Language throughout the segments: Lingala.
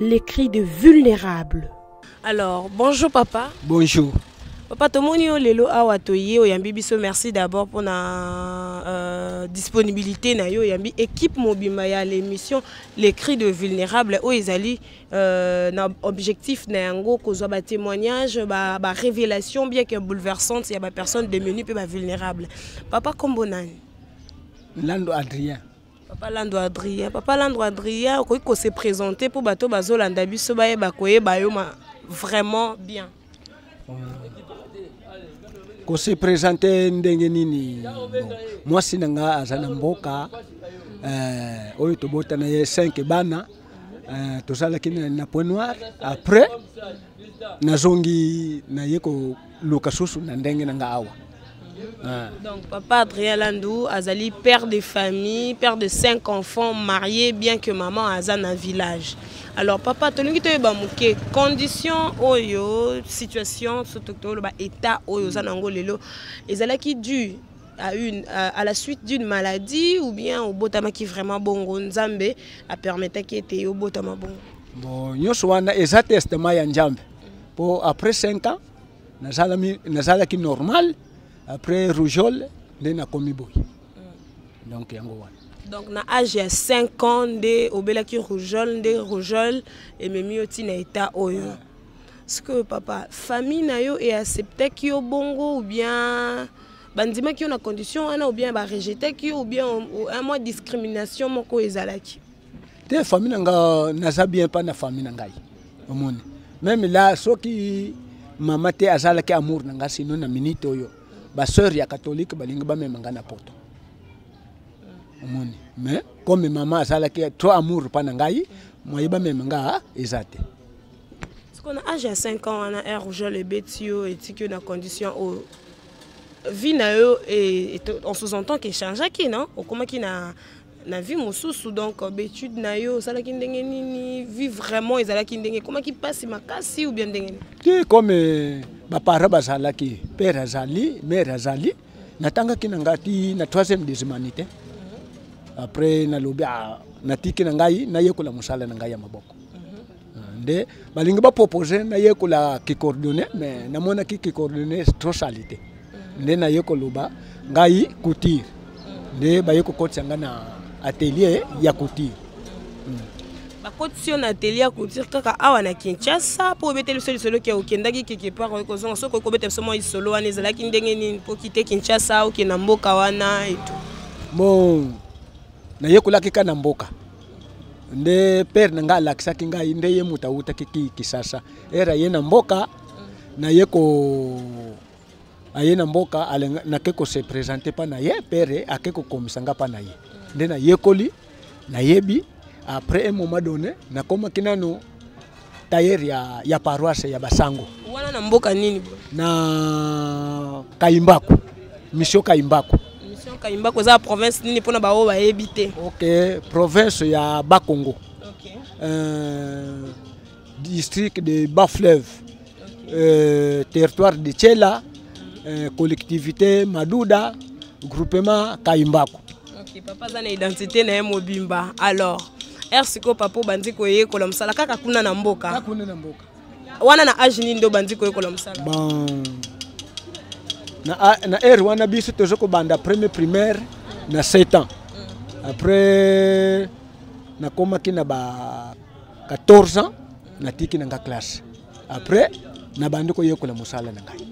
Les cris de vulnérables. Alors, bonjour papa. Bonjour. Papa tomoni yo lelo awa toye oyambi biso merci d'abord pour na euh, disponibilité na yo oyambi équipe mobimba ya l'émission les cris de vulnérables oyo ezali euh, na objectif na yango kozwa ba témoignages ba, ba révélations bien que bouleversantes ya ba personnes démunies mpe ba vulnérables papa kombo nani lando adrien papa lando adrien papa lando adrien okoki kose présente mpo bato bazolanda biso bayeba koyeba yo ma vraiment bien kose présente ndenge nini mwasi na nga aza na mboka eh, oyo tobota na ye 5 bana eh, tozalaki na point noir après nazongi naye luka susu na ndenge na nga awa ah. donc papa adrien landu azali père de famille père de cinq enfants marié bien que maman aza na village alors papa tolingi toyeba moke condition oyo situation surtout toloba état oyo oza nango lelo ezalaki due à, une, à, à la suite d'une maladie ou bien obotamaki vraiment bongo nzambe apermetaki ete obotama bongo bon nyonso wana eza testema ya nzambe mpo après 5 ans nazalaki normal après rougeole nde nakomi boye mm. donc yango wana donc na age ya 5 ans nde obelaki rougeole nde rougeole ememi yo ntina etat oyo yeah. sikoyo papa famille na yo eacceptaki yo bongo ou bien bandimaki yo na condition wana ou bien barejetaki yo ou bien un mois discrimination moko ezalaki te famille na nga naza bien pa na famille na ngai omoni meme la soki mama te azalaki amour na ngai sino na minute oyo basœur ya catholique balingi bamema ngai na poto omoni mais comme mama azalaki trop amour pa na ngai moye bamema ngai eza te sikoyo na age ya 5 ans wana air rougeole ebeti yo etiki yo na condition oyo vie na yo on sous-entend que echangeaki non okomaki na na vie mosusu donc euh, baetude na yo osalaki ndenge nini vie vraiment ezalaki ndenge ekomaki mpasi makasi ou bien ndenge nini te comme euh, baparent bazalaki père azali mare azali natangaki na ngai ti na troisième des humanités après nalobi ah, natiki na ngai nayekola mosala na ngai ya maboko nde balingi bapropose nayekola kikordone mais namonaki kikordone trop salite mm. nde naye koloba ngai couture mm. nde baye kokotisa ngai na atelier ya couture mm. bakotisi yo na atelier ya couture kaka awa na kinshasa mpo obeteli biso lisolo ke okendaki quelque part oye kozonga soki okobeta biso mwa lisolo wana ezalaki ndenge nini mpo kite kinshasa okenda mboka wana etu bon nayekolaki ka na mboka nde père na ngai alakisaki ngai nde ye moto awutaki ki kisasa ere aye na mboka naye ko aye na mboka nake kose présente mpa na ye pere ake kokomisa ngai mpa na ye nde nayekoli nayebi après un moment donné nakomaki nano tailleur ya, ya paroisse ya basango wana na mboka nini na kayimbaku mission kayimbaku mission kayimbaku eza province nini mpona baoyo bayebi te ok province ya bakongo okay. euh, district de bas fleuve okay. euh, territoire de chela euh, collectivité maduda groupement kayimbaku Ok, papa aza na identité na ye mobimba. Alors, heure sikoyo papa obandi koyekola mosala kaka kuna na mboka. Kaka kuna na mboka. Wana na age nini nde obandi koyekola mosala? Bon. Na, na heure wana biso tozo kobanda premier primaire na 7 ans. Mm. Après nakomaki na ba 14 ans natiki na nga classe. après nabandi koyekola mosala na ngai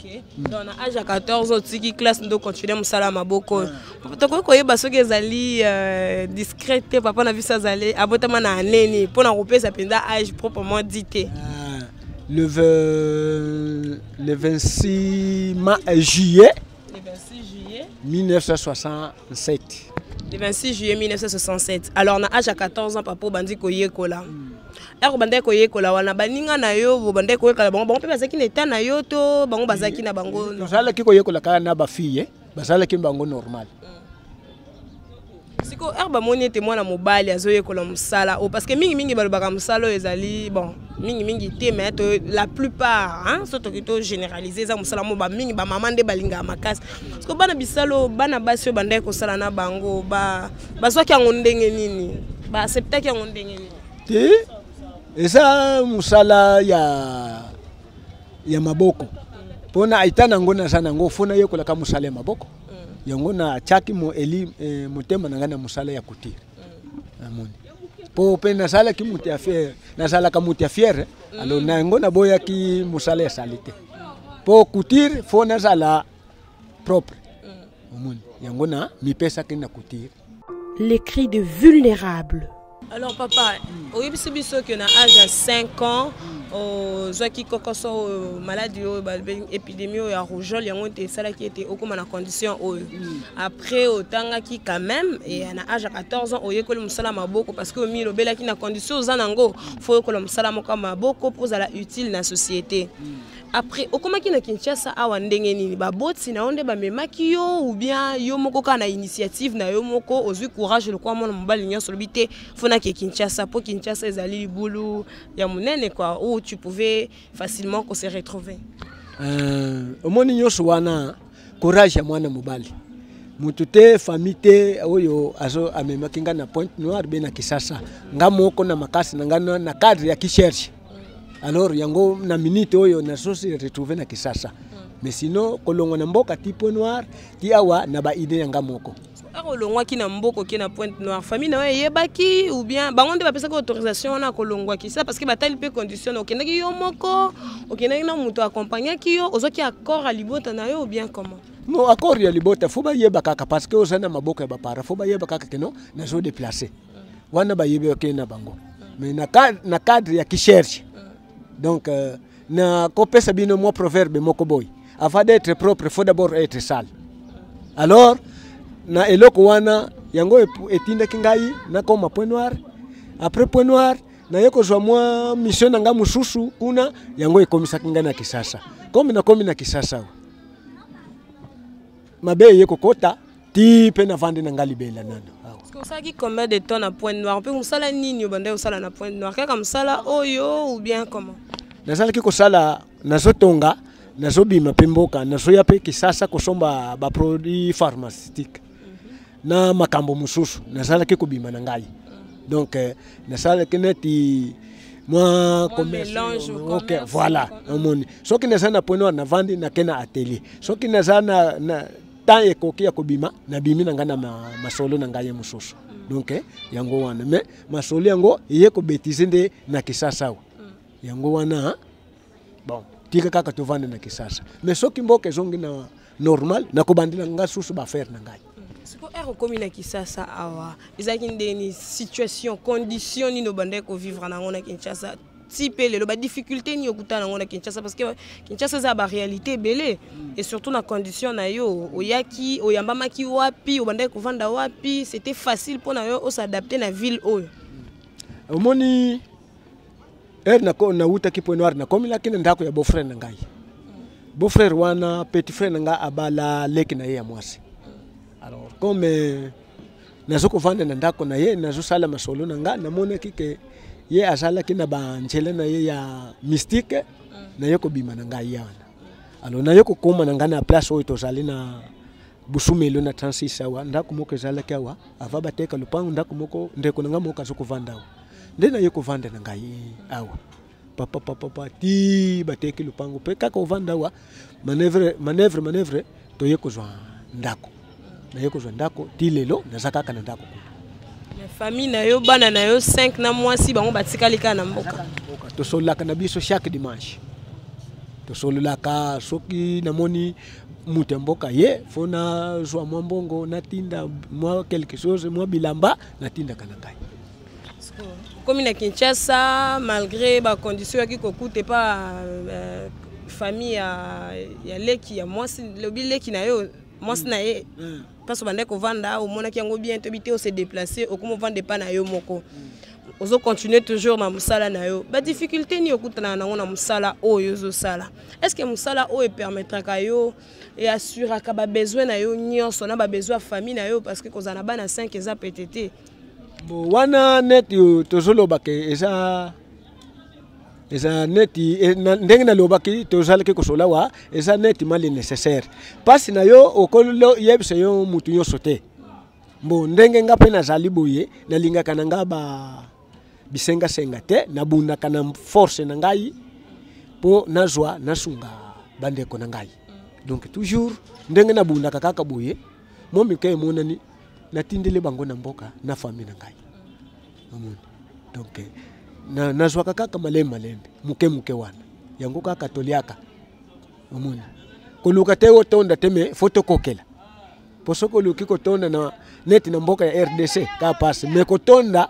okay. mm. donc na age ya 14 otiki classe ndo continue mosala ya maboko oyo ah. tokoki koyeba soki ezali euh, discret te papa na biso azali abotama na aneni mpo na kopesa mpenza age proprement dit te ah, le, le 26 ma, euh, juillet Le 26 juillet 1967. Le 26 juillet 1967. Alors na âge ya 14 ans papa obandi koyekola. Mm. Eko bandaki koyekola wana baninga na yo obandaki koyekola bango bango mpe bazalaki na etat na yo to bango bazalaki na bango. Tozalaki koyekola kaka na ba filles, eh. bazalaki bango normal. Mm. siko heure bamoni ete mwana mobali azoyekola mosala oyo oh, parce que mingimingi balobaka mosala oyo ezali bon mingimingi te mais to la plupart so toki to généralise eza mosala mo bamingi bamama nde balingaka makasi siko bana bisalo bana basi oyo bandaki kosala na bango bazwaki yango ndenge nini baacceptaki yango ndenge nini te eza mosala ya ya maboko mpo na eta na yango naza na yango fo nayekolaka mosala ya maboko yango natyaki eli eh, motema na ngai na mosala ya kutire namoni mpo mpe nasalaki moto ya fiere nasalaka moto ya fiere mm. alors na yango naboyaki mosala ya sali te mpo kutire fo nazala propre mm. omoni yango na mipesaki na kutire les cris de vulnérables. Alors papa, oyebisi biso que na âge ya 5 ans ozwaki kokoso oyo maladi oyo balobi épidémie oyo ya rougeole yango ete esalaki ete okóma na condition oyo hmm. après otangaki quand même e na âge ya 14 ans oyekoli mosala maboko parce que omi elobelaki na condition oza na yango fo oyekola mosala moko ya maboko mpo ozala utile na société hmm. Après okomaki na Kinshasa awa ndenge nini baboti na yo nde bamemaki yo ou bien yo moko kaka na initiative na yo moko ozwi courage lokola mwana mobali nyonso olobi te fo nake Kinshasa mpo Kinshasa ezali libulu ya monene kua où tu pouvais facilement ko se retrouver euh, omoni nyonso wana courage ya mwana mobali motu te famille te oyo azo amemaki ngai na pointe noire be na kisasa ngai moko na makasi na ngai na cadre ya kicherche alors yango na minute oyo na sosi retrouve na kisasa mm. mais sinon kolongwa na mboka ti point noir ti awa na baide ya nga moko akolongwaki na mboko oke na pointe noire famille na yo eyebaki ou bien bango nde bapesaki autorisation wana akolongwaki sa parce que batali mpe condition okendaki yo moko okendaki na moto accompagnaki yo ozwaki accord ya libota na yo ou bien comment no accord ya libota fo bayeba kaka parce que oza na maboko ya bapara fo bayeba kaka keno nazo deplace wana bayebi okei na bango mais na, na cadre ya kisherche donc euh, na kopesa bino mwa proverbe moko boy avant d'être propre faut d'abord être sale alors na eloko wana yango etindaki ngai nakoma point noir après point noir naye kozwa mwa mission na ngai mosusu kuna yango ekomisaki ngai na kisasa komi nakomi na kisasa mabe eye kokota ti mpe navandi na ngai libela nano osalaki combien de temps na point noir mpe mosala nini obandaki kosala na point noir kaka mosala oyo ou bien comment nazalaki kosala nazotonga nazobima mpe mboka nazoya mpe kisasa kosomba baproduit pharmaceutique na makambo mosusu nazalaki kobima na ngai donc euh, nasalaki neti mwa okay, voilà omoni soki naza na pwene wana navandi nake na atelier soki naza na, na temps ekoki ya kobima nabimi na ngai na masolo na ngai ye mosusu mm. donc eh, yango wana mais masolo yango eye kobetize nde na kisasa awa mm. yango wana bon tika kaka tovanda na kisasa mais soki mboka ezongi na normal nakobandela nga susu baaffaire na ngai siko ere okomi na kisasa awa ezalaki ndeni situation condition nini obandaki kovivre na yango na kinshasa ti mpe lelo badifficulté nini okuta na yango na kinshasa parce que kinshasa eza baréalité ebele et surtout na condition na yo oyaki oyambamaki wapi obandaki kovanda wapi c'était facile mpo na yo osadapte na ville oyo omoni ere nawutaki point noir nakomelaki na ndako ya beau-frère na ngai beau-frère wana petit frère na ngai abala leki na ye ya mwasi alors comme euh, nazo kovanda na ndako na ye nazosala masolo na ngai namonaki ke ye azalaki na banzela na ye ya mystique mm. naye kobima na ngai ye wana alors naye kokoma na ngai na place oyo tozali na busumelo na 36 awa ndako moko ezalaki awa ava bateka lopango ndako moko ndeko na ngai moko aza kovanda awa nde naye kovanda na ngai awa papa papa papa ti bateki lopango mpe kaka ovanda awa manevre manevre manevre toye kozwa ndako naye kozwa ndako ti lelo naza kaka na ndako kuna famille na yo bana na yo 5 na mwasi bango batikali kaka na mboka tosololaka na biso chaque dimanche tosololaka soki namoni moto ya mboka ye fo nazwa mwa mbongo natinda mwa quelque chose mwa bilamba natindaka na ngai okomi na kinshasa malgré bacondition yaki kokuta epa euh, famille ya, ya leki ya mwasi lobi leki na yo mwasi na ye mm. place obandaki kovanda omonaki yango bien toyebi te ose déplace okomi ovanda epa na yo moko mm. ozo continue toujours na mosala na yo badifficulté nini okutanaka nango na mosala oyo ozosala est ce que mosala oyo epermettraka yo e assuraka babesoin na yo nyonso na babesoin ya famille na yo parce que kozala na bana 5 eza pete te bo wana neti tozolobaka eza eza neti e, ndenge nalobaki tozalaki kosola wa eza neti mali nécessaire mpasi na yo okoyebisa yo motu nyonso te mbo ndenge nga mpe nazali boye nalingaka na nga ba bisenga senga te na bunda kana force na ngai po nazwa nasunga bandeko na ngai donc toujours ndenge na bunda kaka boye mo mika emonani natindeli bango na mboka na famille na ngai omoni donc na nazwaka kaka malembe malembe muke muke wana yango kaka toliaka omoni koluka te otonda te me fo tokokela mpo soki oluki kotonda na neti na mboka ya rdc kaka mpasi me kotonda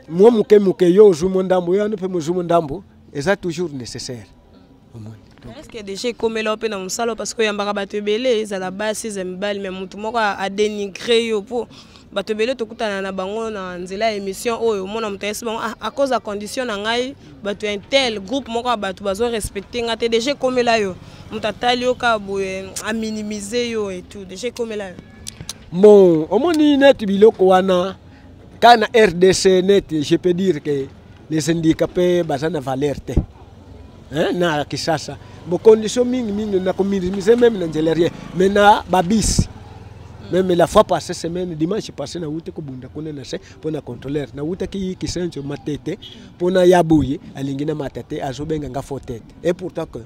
mwa moke moke yo ozwi mo ndambo yo wana mpe mozwi mo ndambo eza toujours nécessaire omoni eske deja ekomela yo mpe na mosala parce que oyambaka bato ebele ezala basi eza mibali me motu moko adenigre yo mpo bato ebele tokutana na bango na nzela ya émission oyo omona moto ayesi bango ah, à cause ya condition na ngai bato ya intel groupe moko ya bato bazo respecte ngai te deja ekomela yo moto atali yo kaka boye aminimize yo et tout deja ekomela yo bon omoni neti biloko wana kaka na rdc neti je peux dire que les syndicats mpe baza na valeur te hein, na Kisasa bo condition mingi mingi na kominimiser meme na nzela rien mais na babisi meme la fois passée semaine dimanche passé na wuti kobunda kuna na se mpo na contrôleur na wutaki kisenso matete mpo na ya boye alingi na mata te azobenga nga faux tete et pourtant que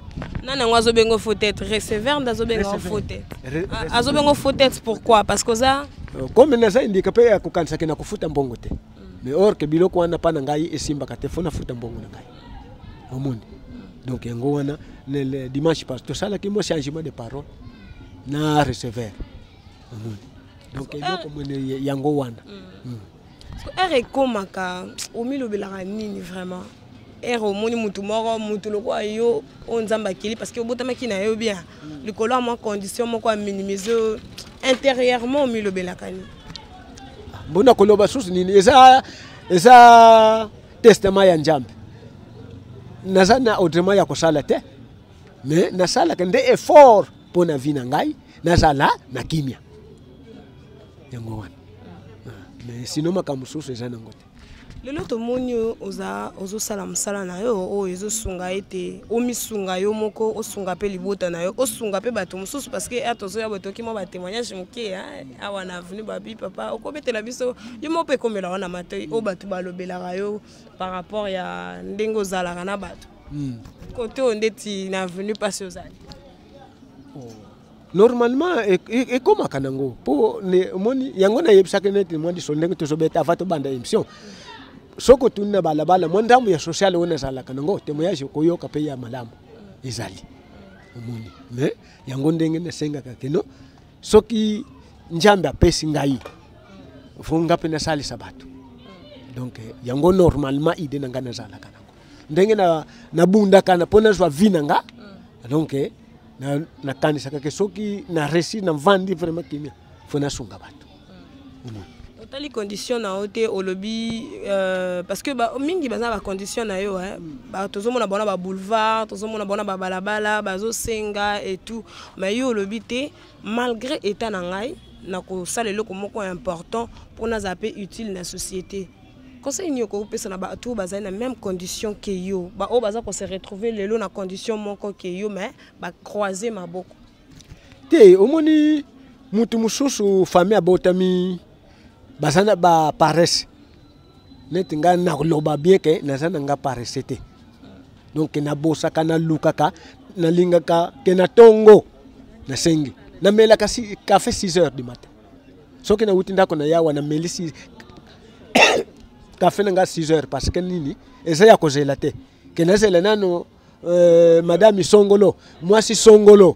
nani yango azobenga faux tete receveur nde azobenga faux tete azobenga faux tete pourquoi parce que oza euh, comme naza indika mpe ya kokanisaki na kofuta mbongo te mais or ke biloko wana pa na ngai esimbaka te fo nafuta mbongo na ngai omoni donc yango wana le dimanche pas tosalaki mwa changement de parole na recever omoni donc eloko euh, mwene yango wana mm. mm. ere ekomaka omilobelaka nini vraiment ere omoni motu moko motu lokola yo oyo nzambe akeli parce que obotamaki na yo bien likolo ya mwa condition moko ya minimise intérieurement omilobelaka nini mpo na koloba susu nini eza eza testament ya nzambe naza na autrement ya kosala te me nasalaka nde effort mpo na vie na ngai nazala na kimia yango wana ah, me sino makambo mosusu eza nango te lelo tomoni oza ozosala mosala na yo oyo ezosunga ete omisunga yo moko osunga mpe libota na yo osunga mpe bato mosusu parce que ata ozoya botoki mwa batémoignage moke awa na avenu babi papa okobetela biso yo moko mpe ekomela wana matoi oyo bato balobelaka yo par rapport ya ndenge ozalaka na bato kote hmm. oyo ndeti na avenu mpasi ozali oh. normalement e, e, ekomaka nango mpo omoni yango nayebisaki neti mwa liso ndenge tozobeta ava tobanda émission soki otuni na balabala mwa ndambo ya sociale oyo nazalaka nango témoignage okoyoka mpe ya malamu ezali omoni me yango ndenge nasengaka keno soki nzambe apesi ngai fo nga mpe nasalisa bato donc yango normalement ide na ngai nazalaka nango ndenge nabundaka na, mpo nazwa vi na nga mm. donc eh, nakanisaka na ke soki na resi na mvandi vraiment kimia fo nasunga bato mm. mm. otali condition na yo te olobi euh, parce que ba, mingi baza na bacondition na yo eh. ba, tozomona bona baboulevard tozomona bona babalabala bazosenga et tout mais yo olobi te malgré état na ngai nakosala eloko moko important mpo nazala mpe utile na société conseil nini okoki kopesa na bato oyo bazali na même condition ke yo baoyo baza ko se retrouver lelo na condition moko ke yo mais bacroise maboko te omoni motu mosusu famille abotami baza na baparese neti ngai naloba bien ke naza na ngai parese te donk nabosaka nalukaka nalingaka ke na ntongo nasengi namelaka kafe 6 heures du matin soki nauti ndako na yawa namelisi kafe na nga 6 heures parce que nini eza ya kozela te ke nazela nano euh, madame isongolo mwasi songolo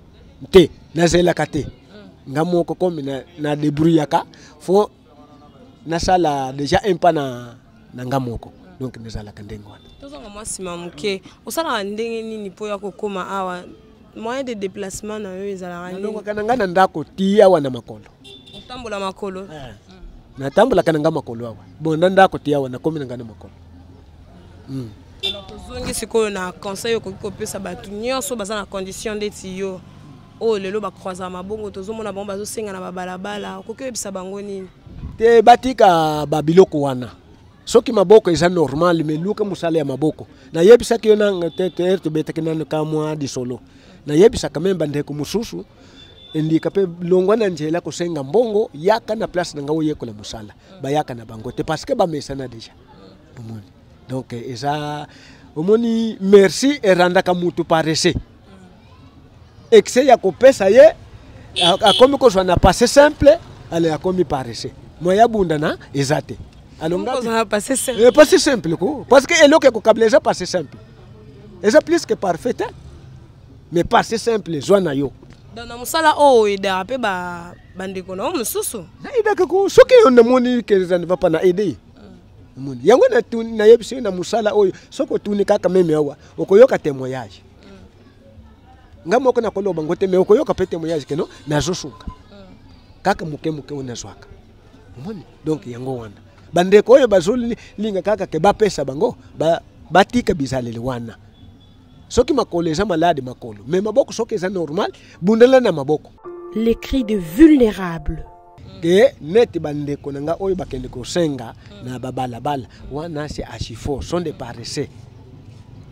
te nazelaka te nga moko komi na, na debrouillaka fo nasala déjà un pas na, na nga moko donc nazalaka ndenge wana tozonga mwa nsima moke osalaka ndenge nini mpo ya kokóma awa moyen de déplacement na yo ezalaka nalongaka na ngai na ndako ti awa na makolo otambola makolo eh. natambolaka na ngai makolo awa bon na ndako ti awa nakomi na ngai na makolo hmm. alors tozongi sikoyo na conseil okoki kopesa bato nyonso baza na condition ndeti yo oyo oh, lelo bacroisaka mabongo tozomona bango bazosenga na babalabala okoki oyebisa bango nini te batika babiloko wana soki maboko eza normal me luka mosala ya maboko nayebisaki yo nanga te te tobetaki nano ka mwa lisolo nayebisaka meme bandeko mosusu endika mpe longwa na nzela kosenga mbongo yaka na place na ngai oyekola mosala bayaka na bango te parce que bamesana deja omoni donc eza omoni merci erandaka motu parese excès ya kopesa ye akomi kozwa na passé simple ale akomi paresse moye abunda na eza te alongapassé eh, simple ko parce que eloko ekokabila eza passé simple eza plus que parfait te mais passé simple zwa na yo donc na mosala oyo oh, edaka mpe bandeko na yo mosusu naedaka ko soki yo namoni eza ne va pas na aide ye hmm. yango nayebisi yo na mosala oyo soki otuni kaka meme awa okoyoka témoignage nga moko nakoloba ngo te me okoyoka mpe temoyage keno nazosunga kaka moke moke oyo nazwaka omoni donc yango wana bandeko oyo bazolinga kaka ke bapesa bango batika ba bizaleli wana soki makolo eza malade makolo me maboko soki eza normal bundela na maboko les cris de vulnérable ke neti bandeko na nga oyo bakende kosenga na babalabala wana se achifo son de paresse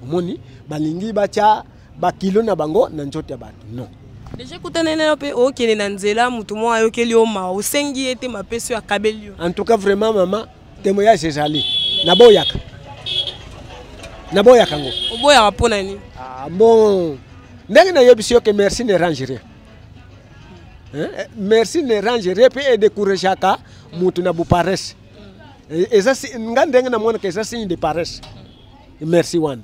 omoni balingi batya bakilo na bango na nzoto ya bato non deja ekutani nayo mpe okende na nzela moto moko ayokeli yo mawa osengi ye te mapesi oyo akabeli yo en tout cas vraiment mama temoyage ezali naboyaka naboyaka yango oboyaka mpo na nini ah, bon ndenge nayebisi yo ke merci ne range rien Eh, eh, merci ne range repe e décourageaka moto na boparesse eh, eza nga ndenge namonaka eza signe de paresse merci wana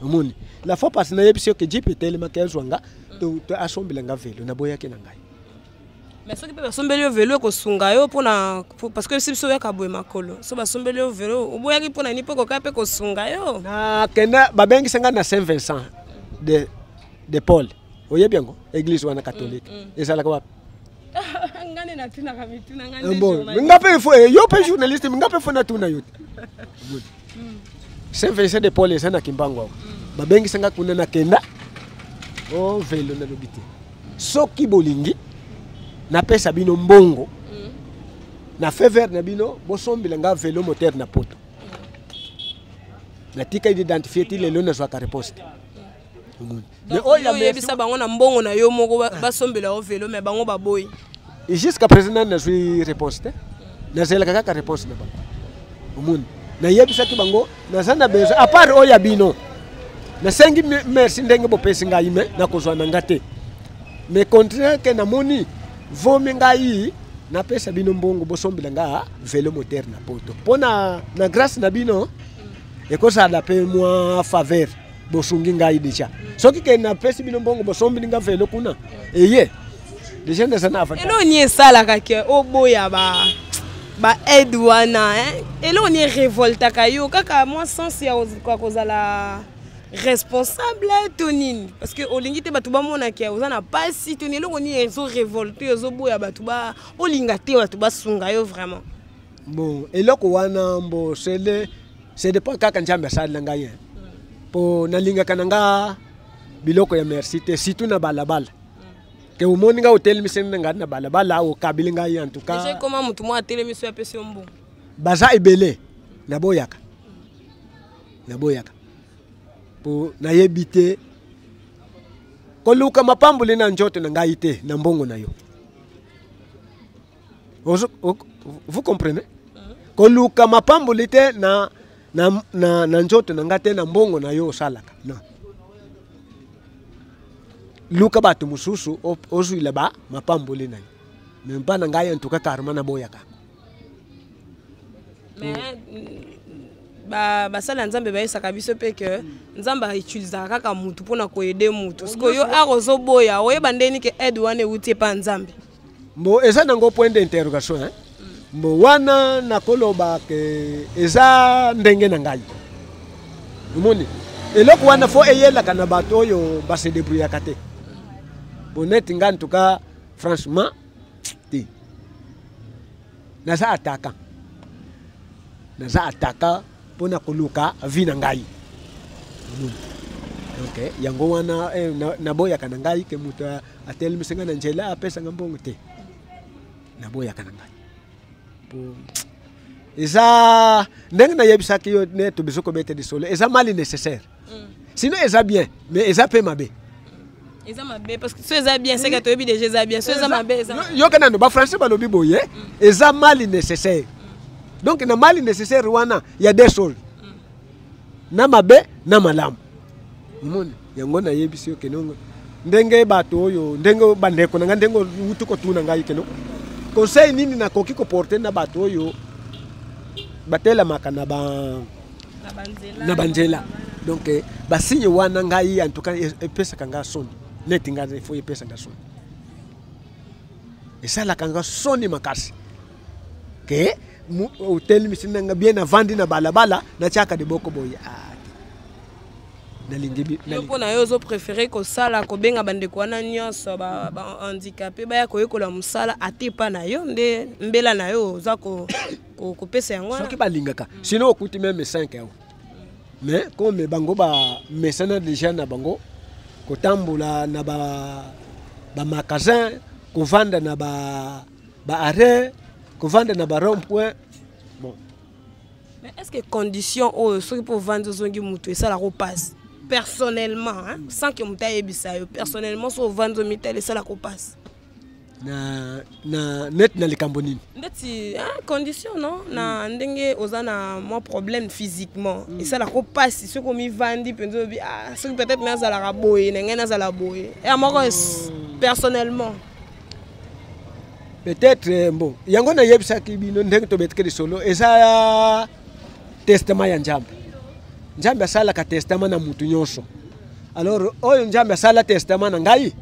omoni la fois passe nayebisi yo ke jipe etelemaki azwa nga asombela nga velo naboyaki na ngai mais soki mpe basombeli yo velo ekosunga yo mpona parce que si biso oyaka boye makolo so basombeli yo velo oboyaki mpona nini mpo ekokaa mpe kosunga yo nakenda babengisa ngai na saint vincent de de paul oyebi yango église wana catholique mm, mm. ezalaka wapi eh, nga mpe fo eh, yo mpe journaliste nga mpe fo natuna yo te mm. saint vincent de paul eza na kimbangu awa babengisa nga kuna nakenda o oh, velo nalobi te soki bolingi napesa bino mbongo na fever na bino bosombela nga velo moteur na poto natikali identifie ti lelo nazwaka reposte oyebisa bango na mbongo na yo moko ah. basombela yo velo me bango baboyi jusqu'à présent nani nazwi réponse te nazelaka kaka réponse na bango omoni nayebisaki bango naza na besoin apart oyo ya bino nasengi merci ndenge bopesi ngai me nakozwa na nga te me contraire ke namoni vomi ngai napesa bino mbongo bosombela nga velo moteur na poto mpo na, na grâce na bino ekozala mpe mwa faveur bosungi ngai deja soki ke napesi bino mbongo bosombili nga velo kuna eye deja ndesa na afata eloko nini esalaka ke oboya ba ba aide wana eloko nini erevoltaka yo kaka mwa sens ya kozala responsable to nini parce que olingi te bato bamona ke oza na mpasi to nini eloko nini ezorevolte ozoboya bato ba olinga te bato basunga yo vraiment bon eloko wana mbo sele c'est dépend kaka nzambe asali na ngai mpo nalingaka na nga biloko ya merci te surtout na balabala ke omoni ngai otelemiseni na ngai na balabala okabili ngai en tout cas ekoma motu moko atelemisi apesi yo mbongo baza ebele naboyaka naboyaka mpo nayebi te koluka mapamboli na nzoto na ngai te na mbongo na yo vous comprenez koluka mapamboli te na, na, na, na nzoto na ngai te na mbongo na yo osalaka non luka bato mosusu ozwila ba mapamboli na yo me mpa na ngai antuka karma naboyaka basali ya nzambe bayesaka biso mpe ke nzambe autilisaka kaka motu mpona koyede motu sikoyo art ozoboya oyeba ndeni ke aide wana euti epa nzambe mbo eza nango point d'interrogation hein? mbo wana nakoloba ke eza ndenge na ngai omoni eloko wana fo eyelaka na bato oyo base debrouillaka te boneti ngai ntuka franchement te naza ataka naza ataka mpo na koluka vi na ngai omoni donc yango wana eh, naboyaka na ngai ke moto atelemisa ngai na nzela apesa ngai mbongo te naboyaka na ngai po eza ndenge nayebisaki yo neti biso kobeta lisolo eza mali nécessaire mm. sinon eza bien mais eza mpe mabe eza mabe parce que so eza bien seke toyebi déjà eza bien so eza mabe yoka nano bafrançais balobi boye mm. eza mali nécessaire mm. donc na mali nécessaire wana ya desol na mabe na malamu omoni yango nayebisi yo kenongo ndenge bato oyo ndenge bandeko na ngai ndenge outi kotuna ngai keno conseil nini nakoki koporte na bato oyo batelamaka na ba na banzela donc eh, basigne wana ngai en tout cas e, epesaka ngai soni neti ngai efo epesa ngai soni esalaka ngai soni makasi ke otelemisi nanga bien navandi na balabala natyaka liboko boye ah, nalingi yo mpo na yo ozoprefere kosala kobenga bandeko wana nyonso bahandikape baya koyekola mosala ata epa na yo nde mbela na yo oza kopesa yango wana soki balingaka sino okuti meme 5 yango mais comme bango bamesana déjà na bango kotambola na bamagasin kovanda na ba, ba ba arrêt kovanda na ba rond point bon mais est ce que condition oyo soki mpo ovandi ozongi motu esalaka opasi personnellement hein? sans que moto ayebisa yo personnellement so ovandi omitali esalaka opasi na, na net na likambo nini ndeti hein, condition no na mm. ndenge oza na mwa problème physiquement mm. esalaka opasi soki omivandi mpenza obi ah, soki peut-être nazalaka boye na ngai nazala boye ya moko oh. personnellement peut-être eh, mbo yango nayebisaki bino ndenge tobetiki lisolo eza testament ya nzambe nzambe asalaka testament na motu nyonso alors oyo nzambe asala testament na ngai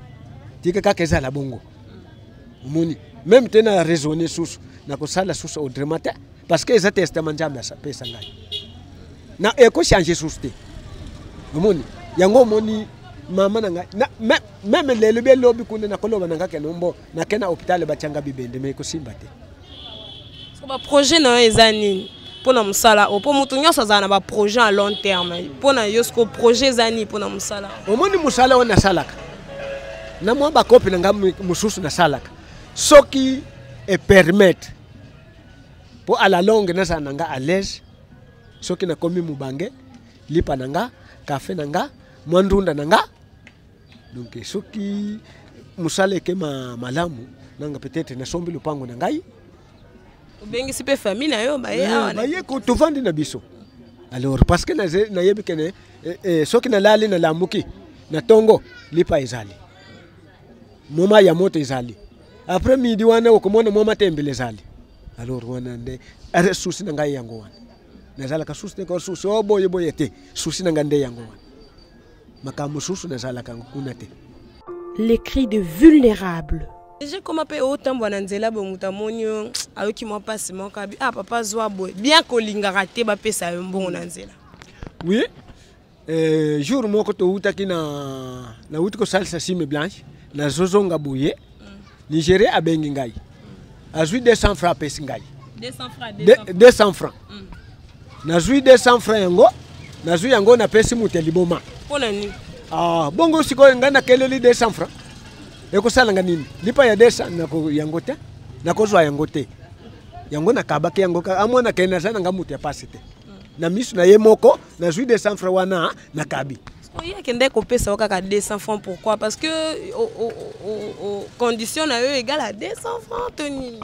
tika kaka ezala bongo omoni meme te na raisonne susu nakosala susu autrement te parce que eza testament nzambe apesa ngai na ekochange susu te omoni yango omoni mama na ngai meme lelo bie lobi kuna nakoloba na nga ke nombo nake na hôpital batyanga bibende me ekosimba te so baprojet na yo eza nini mpo na mosala oyo mpo moto nyonso azala na baprojet ya long terme mpo na yo soko projet eza nini mpo na mosala omoni mosala oyo nasalaka na mwa bakopi na ngai mosusu nasalaka soki epermete mpo ala longue nazala na ngai alaise soki nakomi mobange lipa na ngai kafe na ngai mwa ndunda na ngai donc soki mosala ekema malamu nanga peut-être nasombi lopango na ngai obengisi mpe famille na yo baye awa na- baye ko- tovandi na biso alors parce que naze- nayebi kene eh, eh, soki nalali nalamuki na tongo lipa ezali moma ya moto ezali après midi wana okomona moma tembele ezali alors wana nde are susi na ngai yango wana nazalaka susi te ko susi o boye boye te susi na ngai nde yango wana makambo mosusu nazalaka yango kuna te les cris de vulnérables eje koma mpe otambwa na nzela boye moto amoni yo ayoki mwa mpasi moko abi ah papa zwa boye bien kolingaka te bapesa yo mbongo na nzela oui eh, jour moko towutaki na nawuti kosalisa sime blanche nazozonga boye Nigeria abengi ngai. Azui 200 francs apesi ngai. 200 francs. 200 francs. Mm. Nazui 200 francs yango. Nazui yango napesi moto ya liboma. Mpo na nini? Ah, bongo sikoyo ngai nakeleli 200 francs. Ekosala nga nini? Lipa ya 200 nako yango te. Nakozwa yango te. Yango nakabaki yango kaka amwana ke naza na nga moto ya pasi te. Mm. Na misu na ye moko nazui 200 francs wana nakabi. oye akendaki kopesa yo kaka 200 francs pourquoi parce que o, o, o, o, condition na yo egale ya 200 francs to nini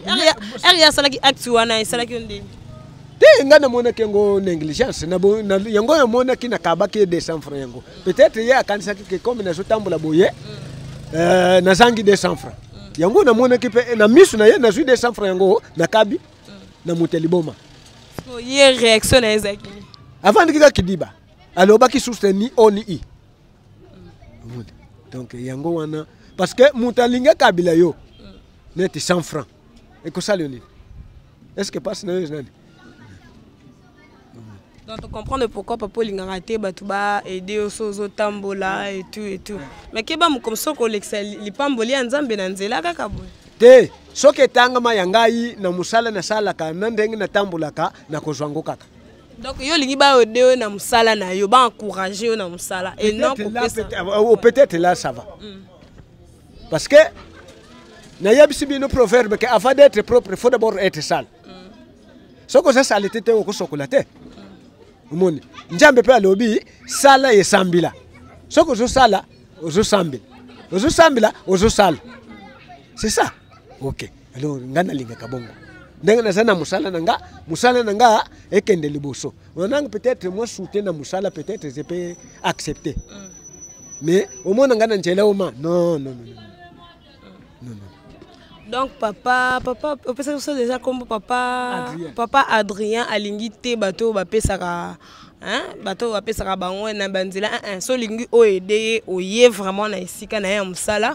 ere ye asalaki acte wana esalaki yo ndenge te ngai namonaki yango négligence yango namonaki nakabaki ye 200 francs yango peut-être ye akanisaki ke comme nazotambola boye mm. euh, nazangi 200 francs mm. yango namonaki mpe na miso na ye nazwi 200 francs yango nakabi mm. na moto ya liboma ye réaction na ye ezalaki avandiki kaka kidiba alobaki source ni o ni i donc yango wana parce que moto alingi akabila yo neti 100 franc ekosala yo nini est ce que mpasi na yo eza nani donc tocomprendre pourquoi papa olingaka te bato baede yo so ozotambola etout etout mais keba mokomi soki olekisa lipamboli ya nzambe na nzela kaka boye te soki etangama ya ngai na mosala nasalaka na ndenge natambolaka nakozwa yango kaka donc yo olingi bayode yo na mosala na yo baencourage yo na mosala et non kopesa peut-être là ça va mm. parce que nayebisi bino proverbe que avant d'être propre il faut d'abord être sale mm. soki oza salite te okosokola te mm. omoni nzambe mpe alobi sala esambila soki ozosala ozosambela ozosambela ozosala c'est ça ok alors nga nalingaka bongo ndenge naza na mosala na nga mosala na nga ekende liboso onanga peut-être mwa soute na mosala peut-être je peux accepter mm. mais omona nga na nzela oma non non non non non donc papa papa opesaki biso deja nkombo papa adrien. papa adrien alingi te bato oyo bapesaka bato oyo bapesaka bango na banzela eh, eh, so olingi oyo ede ye oye vraiment na esika na ye ya mosala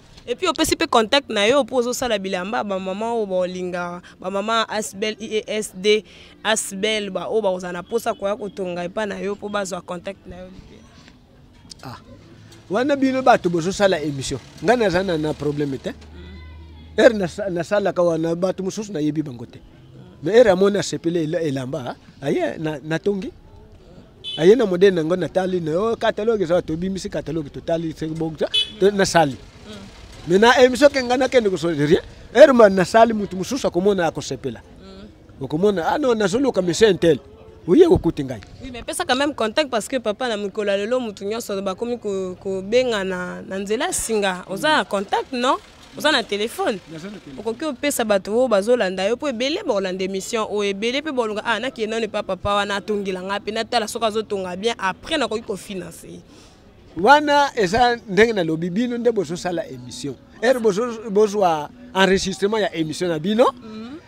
epuis opesi mpe contact na yo mpo ozosala bilamba bamama oyo baolingaka bamama asbel iesd e asbel baoyo bakozala na mposa koya kotonga epai na yo mpo bazwa contact na yo ah. wana bino bato bozosala émission ngai naza na, na problème te ere nasalaka wana bato mosusu nayebi bango te mais ere amoni asepeli elamba aye natongi aye na modele na yango natali na yo catalogue eza tobimisi catalogue totali soki bokisa nasali me na émission ke ngai nakende kosolo rien heure ma nasali motu mosusu akomona akosepela okomona ah non nazoluka monsieur intel oye okuti ngai oui, mais pesaka même contact parce que papa na mokolo ya lelo motu nyonso bakomi kobengana na nzela singa oza na contact non oza na telefone okoki opesa bato oyo bazolanda yo mpo ebele bakolanda émission oyo ebele mpe bolonga ah nakende nano epa papa wana atongela ngai mpe natala soki azotonga bien après nakoki kofinanse ye wana eza ndenge nalobi bino nde bozosala émission ere bozwa enregistrement ya émission na bino mm -hmm.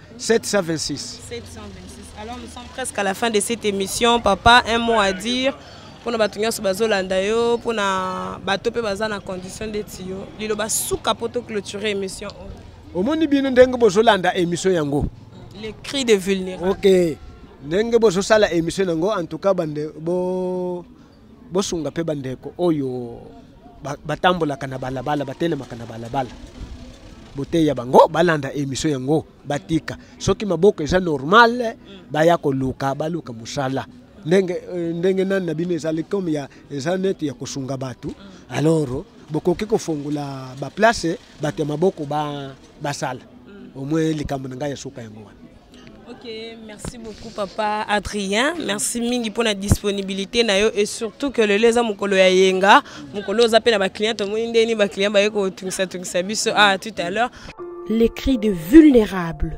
726. 726. Alors nous sommes presque à la fin de cette émission. Papa, un mot à dire pour bato nyonso bazolanda yo mpo na bato mpe baza na condition ndeti yo liloba suka mpo toclôture émission oyo omoni bino ndenge bozolanda émission yango le cri de vulnérable ok ndenge bozosala émission yango en tout cas bande bo bosunga mpe bandeko oyo batambolaka na balabala batelemaka na balabala boteya bango balanda emission yango batika soki maboko eza normal baya koluka baluka mosala ndenge eh, ndenge nani na bino ezali comme ya eza neti ya kosunga bato alors bokoki kofongola baplace bato ya maboko basala au moins likambo na ngai ya suka yango wana Ok, merci beaucoup papa Adrien. Merci mingi pour la disponibilité nayo et surtout que le leza mukolo ya yenga, mukolo za pe na ba clients to moni ndeni ba clients ba yeko tungisa tungisa biso ah tout à l'heure. Les cris de vulnérables